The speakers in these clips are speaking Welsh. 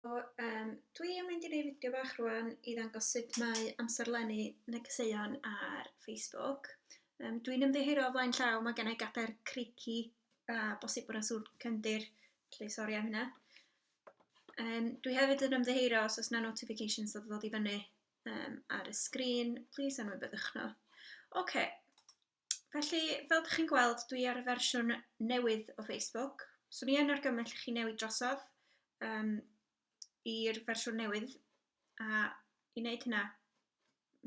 So yym dwi yn mynd i neud fideo bach rŵan i ddangos sut mae amserlennu negeseuon ar Facebook. Yym dwi'n ymddiheuro o flaen llaw ma' gennai gadair creaky a bosib bod 'na sŵn cefndir felly sori am hynna. Yym dwi hefyd yn ymddiheuro os o's 'na notifications yn dod i fyny yym ar y sgrîn plîs anwybyddiwch nhw. Ocê. Felly, fel ydych chi'n gweld, dwi ar y fersiwn newydd o Facebook. So ni yn argymell chi newid drosodd um, i'r fersiwn newydd. A i wneud hynna,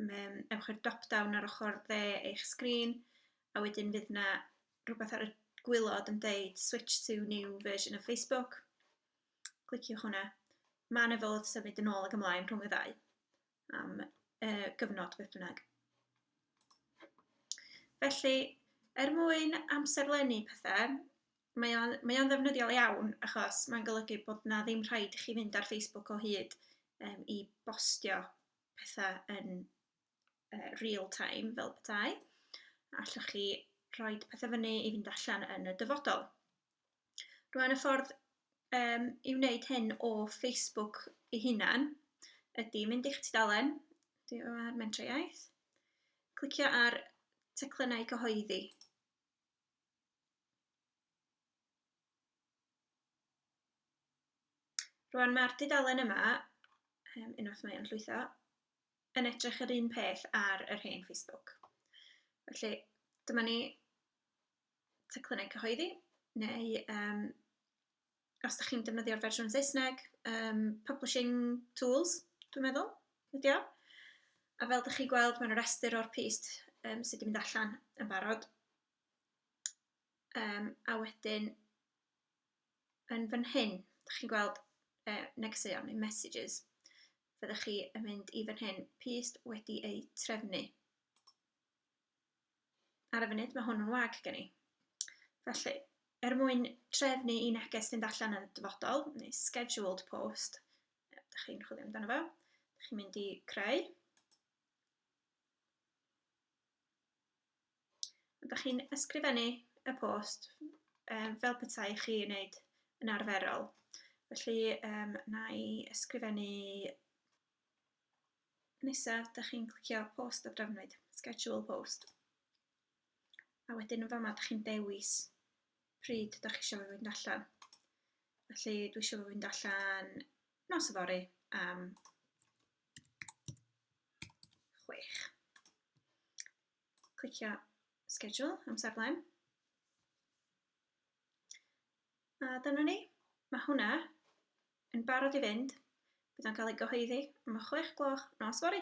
um, ewch i'r drop-down ar ochr dde eich sgrin, a wedyn fydd yna rhywbeth ar y gwylod yn deud switch to new version of Facebook. Cliciwch hwnna. Mae yna fodd symud yn ôl ac ymlaen rhwng y ddau. am yy gyfnod beth bynnag. Felly, er mwyn amserlennu pethau, mae o'n mae o'n ddefnyddiol iawn achos mae'n golygu bod na ddim rhaid i chi fynd ar Facebook o hyd um, i bostio pethau yn uh, real time fel petai. Allwch chi rhoi pethau fyny i fynd allan yn y dyfodol. Rwan y ffordd yym i wneud hyn o Facebook ei hunan ydy mynd i'ch tudalen di- o ar Mentrau Iaith, clicio ar teclynnau cyhoeddi. Rwan mae'r dudalen yma, yym, unwaith mae o'n llwytho, yn edrych yr un peth ar yr hen Facebook. Felly dyma ni teclynnau cyhoeddi, neu um, os da chi'n defnyddio'r fersiwn Saesneg, um, publishing tools, dwi'n meddwl, ydy o. A fel da chi'n gweld, mae'n rhestr o'r pist um, sydd wedi mynd allan yn barod. Um, a wedyn, yn fan hyn, da chi'n gweld uh, negeseuon neu messages. Fyddwch chi yn mynd i fan hyn, pist wedi eu trefnu. ar y funud, mae hwn yn wag gen i. Felly, er mwyn trefnu i neges fynd allan yn y dyfodol, neu scheduled post, ydych chi'n chwilio amdano fo, ydych chi'n mynd i creu. Ydych chi'n ysgrifennu y post um, fel petai chi yn wneud yn arferol. Felly, um, na i ysgrifennu nesaf dach chi'n clicio post a drafnwyd, schedule post. A wedyn yn fama dach chi'n dewis pryd dach chi eisiau fe fynd allan. Felly dwi eisiau fe fynd allan nos yfory am chwech. Clicio schedule amserlen. A dyna ni, mae hwnna yn barod i fynd, bydd o'n cael ei gyhoeddi am y chwech gloch nos fory.